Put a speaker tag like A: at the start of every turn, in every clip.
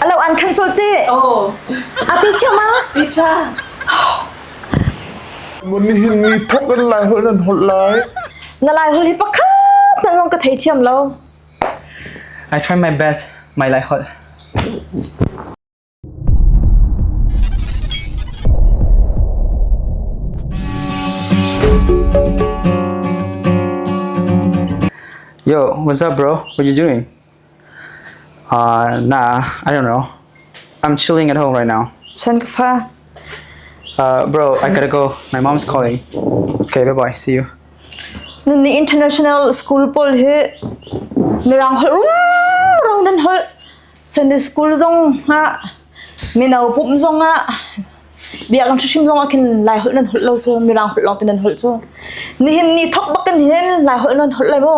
A: Alo an khan cul ti. Oh. Ati cio ma? Icha. Mun hin ni thok kan lai hol nan hol lai. Na lai hol hi pakhat nan hong ka thei thiam lo. I try my best my lai hol. Yo, what's up, bro? What you doing? Uh, nah, I don't know. I'm chilling at home right now. Chan kafa. Uh, bro, I gotta go. My mom's calling. Okay, bye bye. See you. Nani international school pol hi mirang hol rong dan hol Sunday school zong ha minau pum zong ha biak lang thashim zong akin lai hol nan hol lo chu mirang hol lo tin nan hol chu ni hin ni thok bakin hin lai hol nan hol lai mo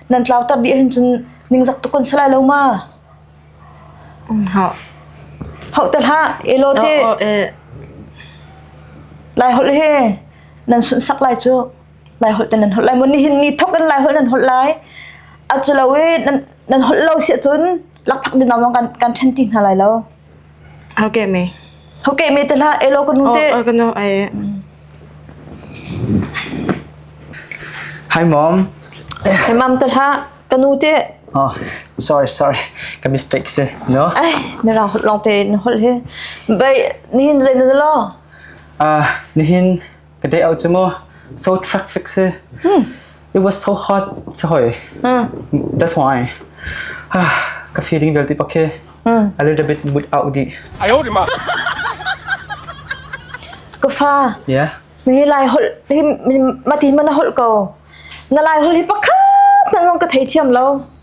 A: nan tlauter dih ahhin cun ningzak tuk kan si lai lo ma hah hauh te hlah e law te lai holh he nan sunsak lai cu lai holh te nan holh lai mun nihin ni thok in lai holh nan holh lai a culo e nan nan holh lo si cun lakphak dinaw zong kan kan ṭhen ti hna lai lo Hokeh me. Hokeh me te hlah. Elo kan te. Oh, oh kan ai. Hi mom. Hi mam te hlah. Kanu te. Oh, sorry, sorry. Ka mistake se. No? Ai, na lang long te na hol he. Bai, ni hin zai na lo. Ah, nihin Ka day out cu mu so traffic si. It was so hot si hoi. That's why. Ka feeling vel ti pak khi a little bit mood out di. Ayo di ma. Ka fa. Yeah. Ni lai hol ni mati mana hol ko. Na lai hol hi pakhat na lang ka thei thiam lo.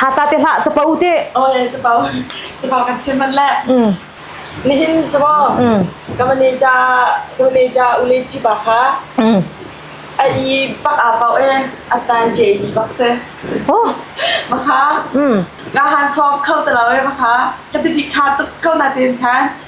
A: Ha ta te hlah capo te. Oe capo. Capo kan chim man le. Mm. Nihin capo. Mm. Kamaneja kamaneja ule chi ba kha. Mm. Ai bak a pau e atan je ni bak se. Oh. Maka. Mm. Nga han sop khau ta lawe maka. Ka ti dik tha tuk kau na ten khan.